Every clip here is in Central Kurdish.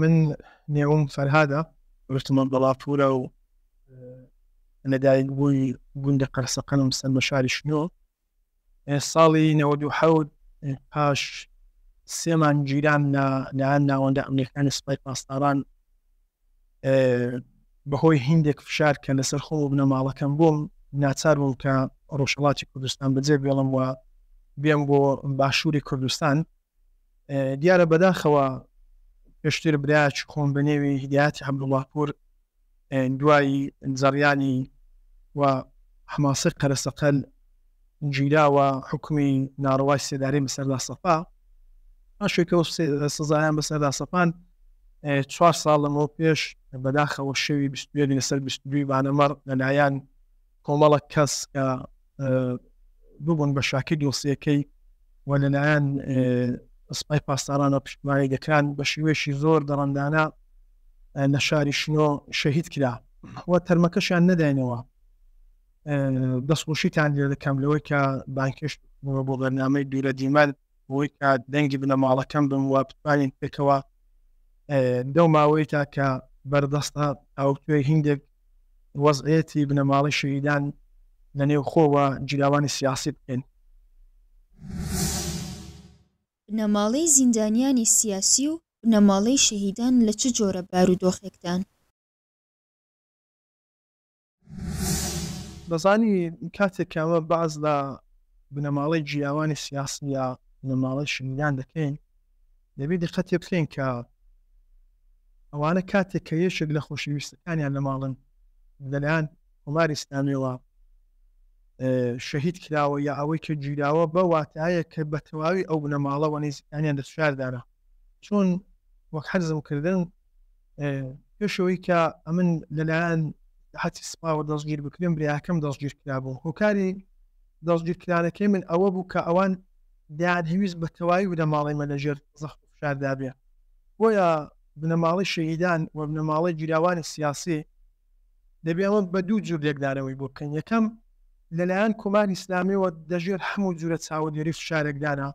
من نێوم فەرهادە ڕشتمە بەڵاپورە و لەدایک بووی گوندە قەرسەقەنم سەر بە شاری شنۆ ساڵی نەوەد و حەوت پاش سێمان گیران لە لایەن ناوەندە ئەمریکانی سپای پاسداران بەهۆی هندێک فشار کە لەسەر خۆ بنە ماڵەکەم بووم ناچار بووم کە ڕۆژهڵاتی کوردستان بەجێ بێڵم وە بێم بۆ باشووری کوردستان دیارە بەداخەوە پێشتر براچ خۆم بە نێوی هیدایەتی عەبدوڵڵاپوور دوای زەڕیانی و حەماسەی قەرەسەقەل گیرا و حکومی ناڕەوای سێدارەی بەسەردا سەپا پاشێکە و سزایان بەسەردا سەپان چوار ساڵ لەمەوە پێش بەداخەوە شەوی 21 لەسەر 22 بانەمەڕ لەلایەن کۆمەڵە کەس کە ببوون بە شاکی دۆسیەکەی و لەلایەن سپای پاسدارانە پشتمانی دەکران بە شێوەیەشی زۆر دەڕندانە لە شاری شنۆ شەهید کرا و تەرمەکەشیان نەداینەوە دەستخۆشیتان لێ دەکەم لەوەی کە بانکێشت بۆ بەرنامەی دوورە دیمەند بۆی کە دەنگی بنەماڵەکەم بم و بتوانین پێکەوە لەو ماوەیتا کە بەردەستە تاوتوێ هیندێک وەزعەتی بنەماڵی شەهیدان لە نێو خۆوە جیراوانی سیاسی بکەین. بنەماڵەی زیندانیانی سیاسی و بنەماڵەی شەهیدان لە چ جۆرە بارودۆخێکدان؟ دەزانی کاتێک کە ئەمە باس لە بنەماڵەی جیاوانی سیاسی یا بنەماڵەی شنگان دەکەین دەبێت دقەتێ بکەین کە ئەوانە کاتێک کە یەکێک لە خۆشەویستەکانیان لە ماڵن لەلایەن کۆماری ئسلامیەوە شەهید کراوە یا ئەوەی کە گیراوە بە واتایە کە بە تەواوی ئەو بنەماڵەوە نزیکانیان دەستشاردارە چۆن وەک حەرزم کردن پێش ئەوەی کە ئەمن لەلایەن حتی سپاوە دەستگیر بکرێن برایەکەم دەستگیر کرابوو هۆکاری دەستگیر کرانەکەی من ئەوە بوو کە ئەوان دیان هەویست بە تەواوی بنە ماڵی مە لەژێر زەخت فشاردابێ بۆیە بنەماڵی شەهیدان و بنەماڵی گیراوانی سیاسی دەبێ ئەمە بە دوو جور لێکدانەوەی بۆ بکەین یەکەم لەلایەن کۆماری ئسلامیەوە دەژێر هەموو جورە چاوەدێری فشارێکدانە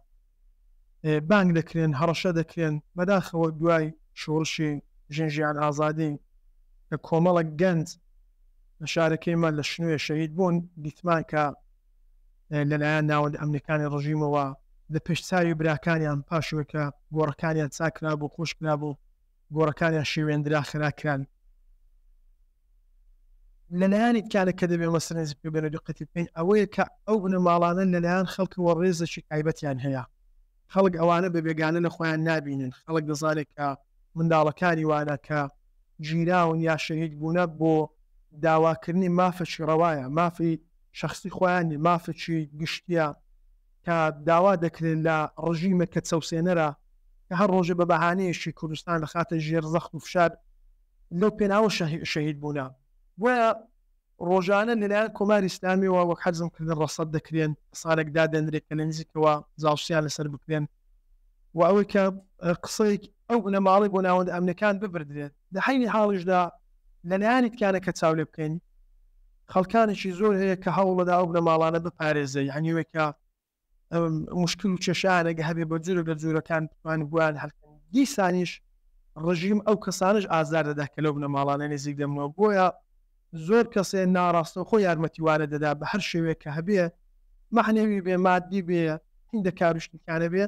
بانگ دەکرێن، هەڕەشە دەکرێن، بەداخەوە دوای شۆڕشی ژن ژیان ئازادی کە کۆمەڵێک گەنج لە شارەکەیمان لە شنۆیە شەهید بوون، دیتمان کە لەلایەن ناوەندە ئەمنیەکانی ڕژیمەوە لە پێش چاوی براکانیان پاشوێکە گۆڕەکانیان چاکرابوو، خۆشکرابوو، گۆڕەکانیان شێوێندرا خرا کران لەلایەنی کارە کە دەبێ مەسەنێزی پێبێنە دقەتی بکەین ئەوەیە کە ئەو بنەماڵانە لەلایەن خەڵکەوە ڕێزێکی تایبەتیان هەیە خەڵک ئەوانە بە بێگانە لە خۆیان نابینن خەڵک دەزانێت کە منداڵەکانی وانە کە ژیراون یا شەهید بوونە بۆ داواکردنی مافەکی ڕەوایە مافی شخصی خۆیان مافەکی گشتیە کە داوا دەکرێت لە ڕژیمەکە چەوسێنەرە کە هەر ڕۆژێ بە بەهانەیەکی کوردستان دەخاتە ژێر زەخت و فشار لەو پێناوە شەهید بوونە بۆیە ڕۆژانە لەلایەن کۆماری ئیسلامیەوە وەک حەرزم کردن ڕەسەد دەکرێن کەسانێک دادەنرێت کە لە نزیکەوە جاوسیان لەسەر بکرێن و ئەوەی کە قسەیەک ئەو بنەماڵی بۆ ناوەند ئەمنەکان ببردرێت لە حینی حاڵیشدا لەلایەنی تکانەکە چاو لێ بکەین خەڵکانێکی زۆر هەیە کە هەوڵەدا ئەو بنەماڵانە بپارێزێ یانی وەی کە مشکل و کێشانێک هەبێ بە جورە لە جورەکان بتوان بوان هەلکەن دیسانیش ڕژیم ئەو کەسانش ئازار دەدا کە لەو بنەماڵانە نزیک دەمنەوە بۆیە زۆر کەسێ ناڕاستەوخۆ یارمەتی وانە دەدا بە هەر شێوێک کە هەبێ مەحنەوی بێ مادی بێ هیندە کاروشتنکانە بێ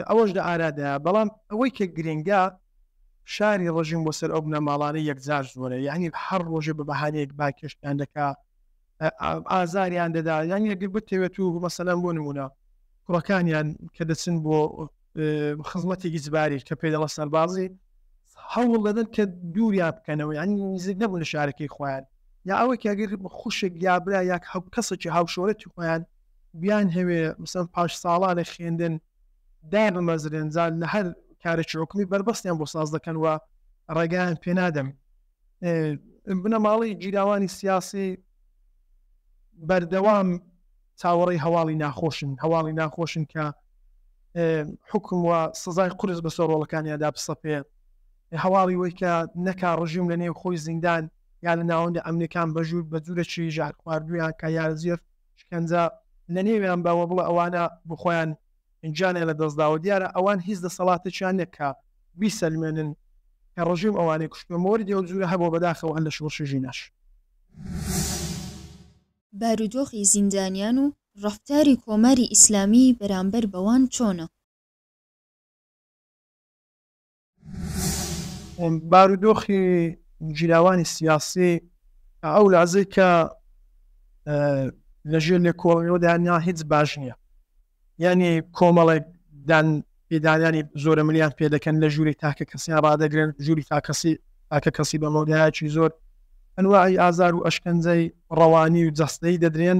ئەوەش لە ئارادایە بەڵام ئەوەی کە گرنگە فشاری ڕژیم بۆ سەر ئەو بنەماڵانە یەکجار زۆرە یانی هەر ڕۆژێ بە بەهانەیەک بانگهێشتیان دەکا ئازاریان دەدا یانی ئەگەر بتەوێت و مەسەلەن بۆ نمونە کوڕەکانیان کە دەچن بۆ خزمەتی ئیجباری کە پێ دەڵە سەربازی هەوڵ دەدەن کە دووریا بکەنەوە یانی نزیک نەبوو لە شارەکەی خۆیان یا ئەوەی کەگەر خوشک یا برا یا کەسێکی هاوشۆرەتی خۆیان بیان هەوێ مثل پاش ساڵانە خوێندن دابمەزرێن جا لە هەر کارێکی حکومی بەربەستیان بۆ ساز دەکەن و ڕێگایان پێنادەن بنەماڵەی گیراوانی سیاسی بەردەوام چاوەڕی هەواڵی ناخۆشن هەواڵی ناخۆشن کە حکم و سزای قرس بەسەر ڕۆڵەکانیاندا بسەپێ هەواڵی وەی کە نەکا ڕژیم لە نێو خۆی زیندان یا لە ناوەندە ئەمنەکان بەژور بە جوورەکی ژار خواردویان کە یارزیێت شکەنجە لە نێویان بە وە بڵێ ئەوانە بۆ خۆیان گیانیان لە دەست داوە دیارە ئەوان هیچ دەسەڵاتێکیان نیە کە بیسەلمێنن کە ڕژیم ئەوانەی کوشتوە مۆردی ئەو جورە هەبوە بەداخەوە هەر لە شۆڕشی ژیناش. بارودۆخی زیندانیان و ڕەفتاری کۆماری ئیسلامی بەرامبەر بەوان چۆنە؟ بارودۆخی گیراوانی سیاسی ئەو لازەی کە لەژێر لێکۆڵینەوەدا نا هیچ باش نییە یعنی کۆمەڵێک دان پێدانانی زۆرە ملیان پێ دەکەن لە ژووری تاکە کەسیان ڕدەگرن ژووری تاکەسی تاکە کەسی بە مۆدایکی زۆر ئەنواعی ئازار و ئەشکەنجەی ڕەوانی و جەستەی دەدرێن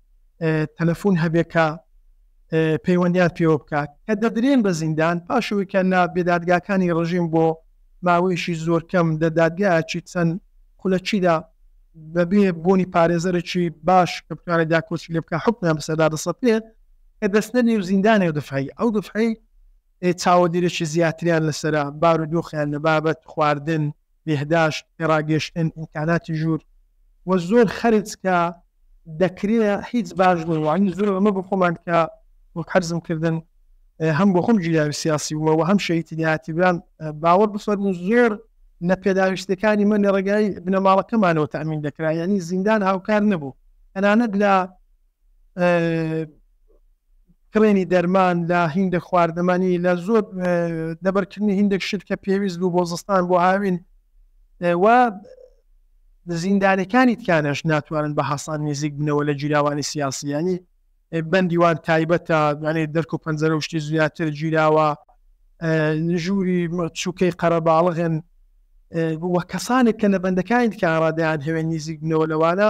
تەلەفون هەبێت کە پەیوەندیان پێوە بکات کە دەدرێن بە زیندان پاشەوەی کە لە بێدادگاکانی ڕژیم بۆ ماوەیەشی زۆر کەم لە دادگایەکی چەند خولەکیدا بەبێ بوونی پارێزەرێکی باش کە بتوانێت داکۆچی لێ بکە حکمیان بەسەردا دەسەپێت کە دەستە نێو زیندانێ و دفعی ئەو دفعی چاوەدێرێکی زیاتریان لەسرە بارودۆخیان لە بابەت خواردن بهداشت، پێڕاگەشتن، ئیمکاناتی ژوور و زۆر خەرج کە دەکرێ هیچ باش نین وانی زۆر ئەمە بۆ خۆمان کە وەک حەرزم کردن هەم بۆ خۆم گیراوی سیاسی بووە و هەم شەیتی لاتیبران باوەڕ بفەرموو زۆر لە پێداویستەکانی من لە ڕێگای بنەماڵەکەمانەوە تەمین دەکرا یعنی زیندان هاوکار نەبوو تەنانەت لە کڕێنی دەرمان لە هیندە خواردەمانی لە زۆر دەبەرکردنی هیندێک شت کە پێویست بوو بۆ زستان بۆ هاوین و زیندانەکانی تکانش ناتوانن بە حەسان نزیک بنەوە لە جیراوانی سیاسیانی بەندیوان تایبەتە یانێ دەرک و پەنجەرە شتی زیاتر گیراوە ژووری چووکەی قەرەباڵغن وە کەسانێک کە لە بەندەکانی تکانڕادیان هەوێن نزیک بنەوە لەوانە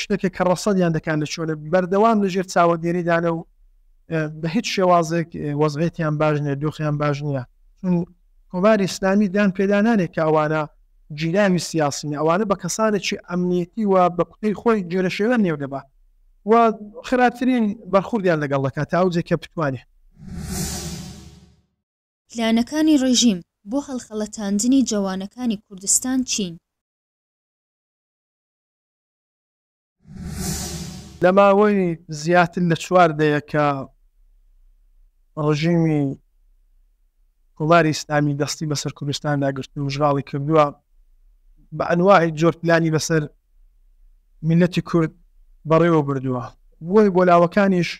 شتێکێک کە ڕەسەدیان دەکات لە چۆنە بەردەوام لەژێر چاوەدێریدانە و بە هیچ شێوازێک وەزعێتیان باش نیە دۆخیان باش نییە چون کۆماری ئسلامی دان پێدانانێک کاوانە جیلاوی سیاسین ئەوانە بە کەسانێکی ئەمنیەتی و بە کوتەی خۆی جۆرە شێوە نێو دەبا و خراپترین بەرخوردیان لەگەڵ دەکات تا ئەوجێک کە بتوانێت. پلانەکانی ڕێژیم بۆ هەڵخەڵەتاندنی جەوانەکانی کوردستان چین؟ لە ماوەی زیاتر لە چوار دەیەکە ڕژیمی کۆماری ئیسلامی دەستی بەسەر کوردستاندا گرت و مژغاڵی کردووە بە ئەنواهی جۆر پلانی بەسەر میلەتی کورد بەڕێوە بردووە بۆی بۆ لاوەکانیش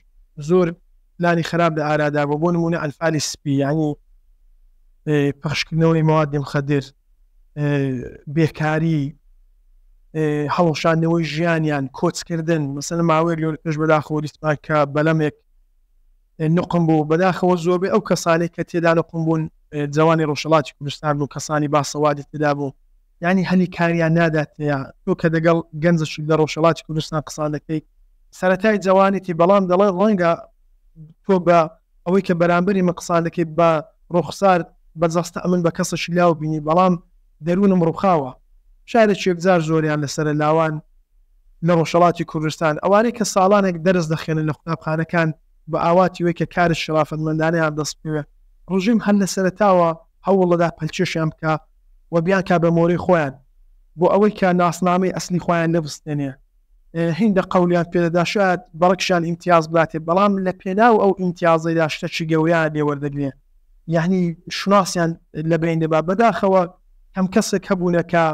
زۆر پلانی خراپ لە ئارادا بۆ بۆ نمونە ئەلفالی سپی ینی پخشکردنەوەی موادی مخدر بێکاری هەڵوشاندنەوەی ژیانیان کۆچکردن مەسەن ماوەیەک لۆر پێش بەداخەوە دیسمان کە بەلەمێک نقم بوو بەداخەوە زۆربێ ئەو کەسانی کە تێدا نقم بوون جوانی ڕۆژهڵاتی کوردستان بوو کەسانی باسەوادی تێدا بوو ینی هەلی کاریان نادات تێیا تۆ کە دەگەڵ گەنجە شت لە ڕۆژهڵاتی کوردستان قسان دەکەیت سەتای جوانێتی بەڵام دەڵێ ڕەنگە تۆ بە ئەوەی کە بەرامبەری من قسان دەکەی بە ڕوخسار بە جەستە ئەمن بە کەسەکی لاو بینی بەڵام دەرونم ڕوخاوە شارێکی یەکجار زۆریان لەسەرە لاوان لە ڕۆژهەڵاتی کوردستان ئەوانەی کە ساڵانێک دەرس دەخوێنن لە قوتابخانەکان بە ئاواتی وەی کە کارت شەرافەتمەندانەیان دەست بکەوێ ڕژیم هەر لە سەرەتاوە هەوڵەدا پەلکێشیان بکا و بیانکا بە مۆرەی خۆیان بۆ ئەوەی کە ناسنامەی ئەسلی خۆیان لێ بستێنێ. هیندە قەولیان پێدەدا شایەد بەڕکشان ئیمتیاز بداتێ بەڵام لە پێناو ئەو ئیمتیازەیدا شتەکی گەوریان لێ وەردەگرێ یەعنی شوناسیان لە بەین دەبا بەداخەوە کەم کەسێک هەبوونە کە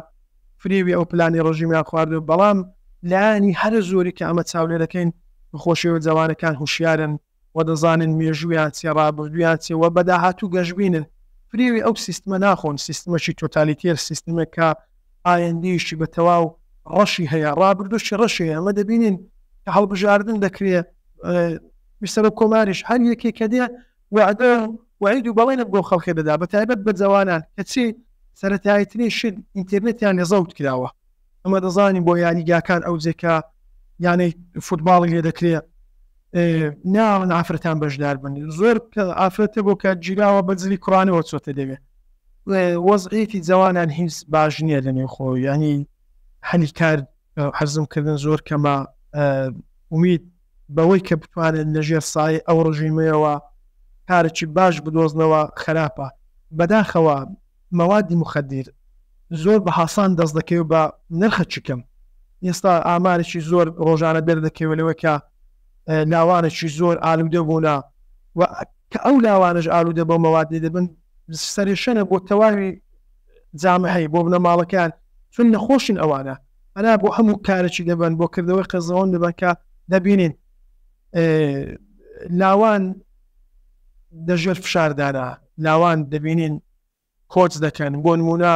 فریوی ئەو پلانی ڕژیمیان خواردوە بەڵام لایەنی هەرە زۆری کە ئەمە چاولێرەکەین بەخۆشیەوە جەوانەکان هوشیارن. وە دەزانن مێژوویان چیە ڕابردوویان چیە وە بەداهاتوو گەشبینن فریوی ئەو سیستمە ناخۆن سیستمەکی تۆتالیتێر سیستمێک کە ئایندەیەکی بە تەواو ڕەشی هەیە ڕابردووکی ڕەشی هەیە ئەمە دەبینین کە هەڵبژاردن دەکرێ سەرۆک کۆماریش هەر یەکێ کە دێ وعدە وعید و بەڵێنە بۆ خەڵکێ دەدا بە تایبەت بە جەوانان کەچی سەرەتایترین شت ئینترنتیان لە زەوت کراوە ئەمە دەزانین بۆ یاریگاکان ئەوجە کە یانەی فوتباڵی لێ دەکرێ ناون ئافرەتان بەشدار بن زۆر ئافرەتە بۆ کە گیراوە بەجلی کوڕانەوە چۆتە دەوێ وەزعیتی جوانان هیچ باش نییە لە نێوخۆ ینی هەلی کار حەزم کردن زۆر کەمە امید بەوەی کە بتوانن لە ژێر سایەی ئەو ڕژیمەیەوە کارێکی باش بدۆزنەوە خراپە. بەداخەوە مەوادی موخەدیر زۆر بە هاسان دەست دەکەوێت بە نرخەکی کەم. ئێستا ئامارێکی زۆر ڕۆژانە دەردەکەوێت لەوەی کە لاوانێکی زۆر ئالوودە بوونە و کە ئەو لاوانەش ئالوودە بەو مەوادەی دەبن سەرێشەنە بۆ تەواوی جامعەی بۆ بنەماڵەکەیان چون نەخۆشن ئەوانە. پەنا بۆ هەموو کارێکی دەبەن بۆ کردەوەی قێزەوەن دەبەن کە دەبینین لاوان دەژێر فشاردانا لاوان دەبینین کۆچ دەکەن بۆ نمونە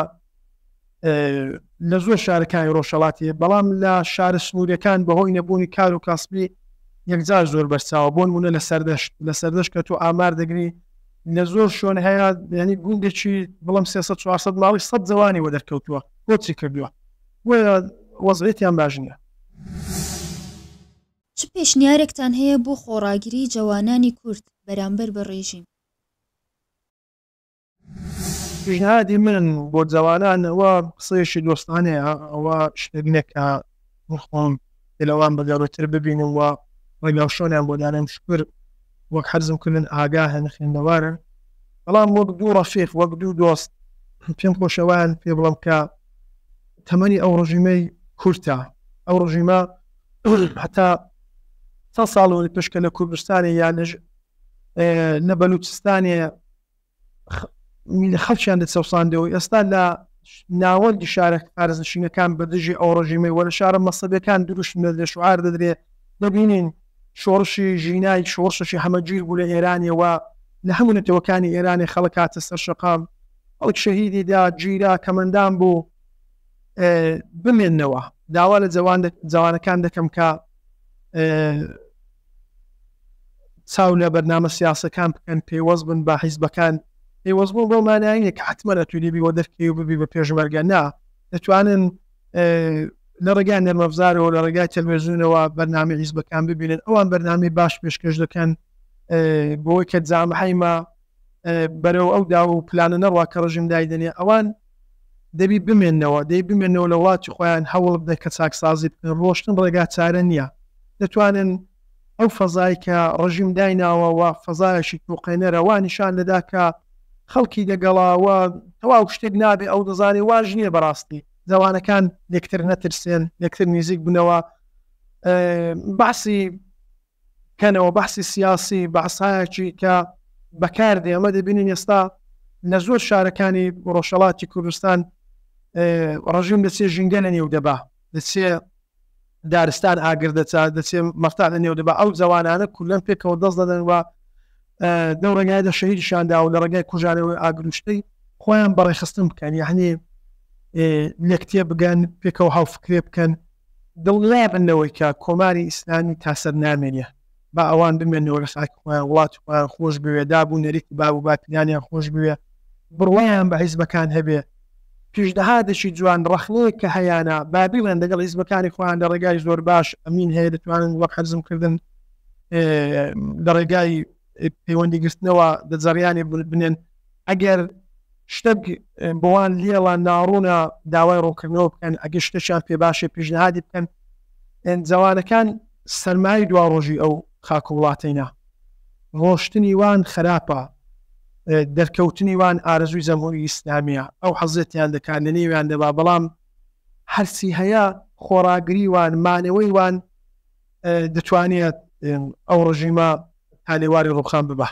لە زۆر شارەکانی ڕۆژهڵاتی بەڵام لە شارە سنوورەکان بەهۆی نەبوونی کار و کاسبی یەکجار زۆر بەرچاوە بۆن مونە لە سەردەشت لە سەردەشت کە تۆ ئامار دەگری لە زۆر شوێن هەیە ینی گوندێکی بڵم 300 400 ماڵی سە جوانی وە دەرکەوتووە کۆچی کردووە بۆیە وەزعیەتیان باش نیە. چ پێشنیارێکتان هەیە بۆ خۆڕاگری جەوانانی کورد بەرامبەر بە ڕێژیم؟ پیشنهادی من بۆ جەوانان ئەوە قسەیەکی دۆستانەیە ئەوە شتێک نیە کە من خۆم. پێلەوان بە گەورەتر ببینم و ڕێگاوشۆنیان بۆ دانێم، شوکر وەک حەرزم کردن ئاگاهن، خوێندەوارن، بەڵام وەک دوو ڕەفیق، وەک دوو دۆست پێم خۆشە وایان پێ بڵێم کە تەمەنی ئەو ڕژیمەی کورتە، ئەو ڕژیمە هەتا چەند ساڵ وەری پشکە لە کوردستانێ یا لە بەلوچستانێ، خەڵکیان دەچەوساندەوە ئێستا لە ناوەندی شارە پارێزنشینەکان بە دژی ئەو ڕژیمەی وەرە شارە مەسەبەکان دروشم لە لە شوعار دەدرێت دەبینین شۆڕشی ژینای شۆڕشەشی هەمەگیر بوو لە ئێرانیەوە لە هەموو نەتەوەکانی ئێرانی خەڵک هاتە سەر شەقام ئەو شەهیدی دا گیرا کەمەندان بوو بمێنەوە داوا لە جوان جوانەکان دەکەم کە چاو لە بەرنامە سیاسەکان بکەن پەیوەست بن بە حیزبەکان پەیوەست بوون بۆ مانایە کە حتممە لە تولیبی وە دەرکەی و ببی بە پێشمەرگە نا دەتوانن لە ڕێگای نەرمەفزارەوە لە ڕێگای تەلوێزیونەوە بەرنامی حیزبەکان ببینن ئەوان بەرنامی باش پێشکەش دەکەن بۆی کە جامحیمە بەرەو ئەو دا و پلانە نەڕوا کە ڕژیم دایدنێ ئەوان دەبی بمێنەوە دەی بمێنەوە لە وڵاتی خۆیان هەوڵ بدەن کە چاکسازی بکەن ڕۆشتن ڕێگا چارە نیە دەتوانن ئەو فەزای کە ڕژیم دایناوە وە فەزایەکی توقێنەرە وا نیشان دەدا کە خەڵکی دەگەڵە وە تەواو شتێک نابێ ئەو دەزانێ واش نیە بەڕاستی زوانەکان لێکتر نەترسێن لێکتر نیزیک بنەوە بەعسی کەنەوە بەحسی سیاسی بەعسایەکی کە بەکاردێ ئەمە دەبینین ئێستا لە زۆر شارەکانی ڕۆژهەڵاتی کوردستان ڕژیم دەچێ ژینگە لە نێو دەبا دەچێ دارستان ئاگر دەچا دەچێ مەرتا لە نێو دەبا ئەو جوانانە کولەن پێکەوە دەست دەدەن وە دەو ڕێگای دە شەهیدشاندا و لە ڕێگای کوژانەوەی ئاگروشتەی خۆیان بەڕێخستن بکەن یعنی لەکتێ بگەن پێکەوە هاوفکرێ بکەن دڵنیابن لەوەی کە کۆماری ئیسلامی تاسەر نامێنێ، با ئەوان بمێنەوە لە خاکی خۆیان، وڵاتی خۆیان خۆش بوێ، داب و نەریتی باب و باپیرانیان خۆش بوێ، بڕوایان بە حیزبەکان هەبێ. پیشنهادێکی جوان، ڕەخنەیەک کە هەیانە، با بیڵێن لەگەڵ حیزبەکانی خۆیان لە ڕێگای زۆر باش، ئەمین هەیە دەتوانن وەک حەزم کردن لە ڕێگای پەیوەندی گرتنەوە دە جەڕیانێک بنێن، ئەگەر شتەک بۆوان لێڵە ناڕوونە داوای ڕوونکردنەوە بکەن ئەگەر شتەکیان پێ باشێ پیشنهادی بکەن جەوانەکان سەرمای دواڕۆژی ئەو خاک و وڵاتەینا ڕۆشتنی وان خراپە دەرکەوتنی وان ئارەزووی جەمهوری ئیسلامیە ئەو حەزێتیان دەکات لە نێویان دەبا بەڵام هەرچی هەیە خۆڕاگری وان مانەوەی وان دەتوانێت ئەو ڕژیمە تا لێواری ڕوخان ببە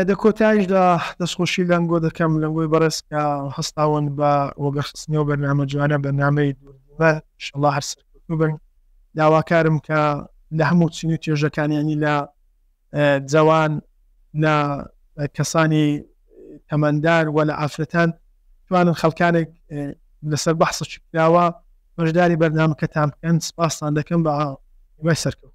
دە کۆتایشدا دەستخۆشی لەنگۆ دەکەم لەنگۆی بەڕێز کە هەستاون بە وەگەخستنەوە بەرنامە جوانە بەنامەی دوورمەن شڵا هەرسەر بن داواکارم کە لە هەموو چین و توێژەکانیانی لە جەوان، لە کەسانی تەمەندار و لە ئافرەتان توانن خەڵکانێک لەسەر بەحسە چکراوە بەشداری بەرنامەکەتان بکەن سپاستان دەکەم بە وای سەرکەوت